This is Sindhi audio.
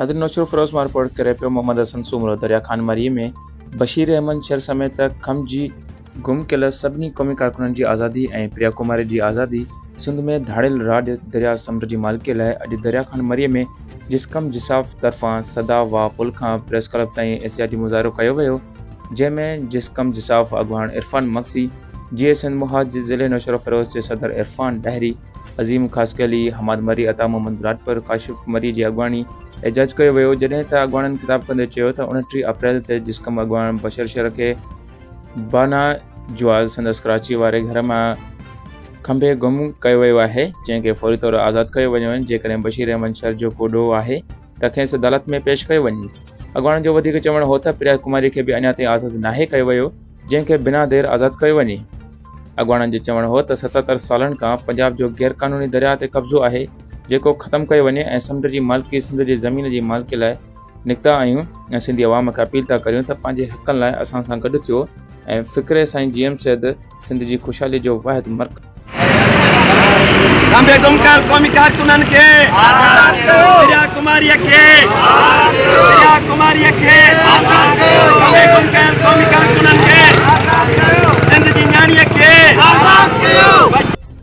ناظرين نوشھرو فيروز مان رپورٽ ڪري پيو محمد حسن سومرو دريا خان مري ۾ بشير احمد شر سميت کم جي گم ڪيل سڀني قومي ڪارڪنن جي آزادي ۽ پريا ڪماري جي آزادي سنڌ ۾ ڌاڙيل راڄ دريا سمنڊ جي مالڪي لاء اڄ دريا خان مري ۾ جسقم جساف طرفان سدا واء پل کان پريس ڪلب تائين احتجاجي مظاهرو ڪيو ويو جنهن ۾ جسقم جساف اڳواڻ عرفان مگسي، جي اي سنڌ محاذ ضلعي نوشهروفيروز جي صدر عرفان ڏاهري، عظيم خاصخيلي، حماد مري، عطا محمد راڄپر، ڪاشف مري جي اڳواڻي احتجاج ڪيو ويو جڏهن ته اڳواڻن خطاب ڪندي چيو ته انٽيهه اپريل تي جسقم اڳواڻ بشر شر کي بانا جواز سندس ڪراچي واري گهر مان کنڀي گم ڪيو ويو آهي جنهن کي فوري طور آزاد ڪيو وڃي وڃي جيڪڏهن بشير احمد شر جو ڪو ڏوهه آهي ته کيس عدالت ۾ پيش ڪيو وڃي اڳواڻن جو وڌيڪ چوڻ هو ته پريا ڪماري کي به اڃا تائين آزاد ناهي ڪيو ويو جنهن کي بنا دير آزاد ڪيو وڃي اڳواڻن جو چوڻ هو ته ستتر سالن کان پنجاب جو غير قانوني درياء تي قبضو آهي جيڪو ختم ڪيو وڃي ۽ سمنڊ جي مالڪي سنڌ جي زمين جي مالڪي لاء نڪتا آهيون ۽ سنڌي عوام کي اپيل ٿا ڪريون ته پنهنجي حقن لاء اسان سان گڏ ٿيو ۽ فڪري سائين جي ايم سيد سنڌ جي خوشحالي جو واحد مرڪز آهي. قومي ڪارڪنن کي آزاد ڪيو دريا ڪماري کي آزاد ڪيو دريا ڪماري کي آزاد ڪيو قومي ڪارڪنن کي آزاد ڪيو سنڌ جي نياڻي کي آزاد ڪيو.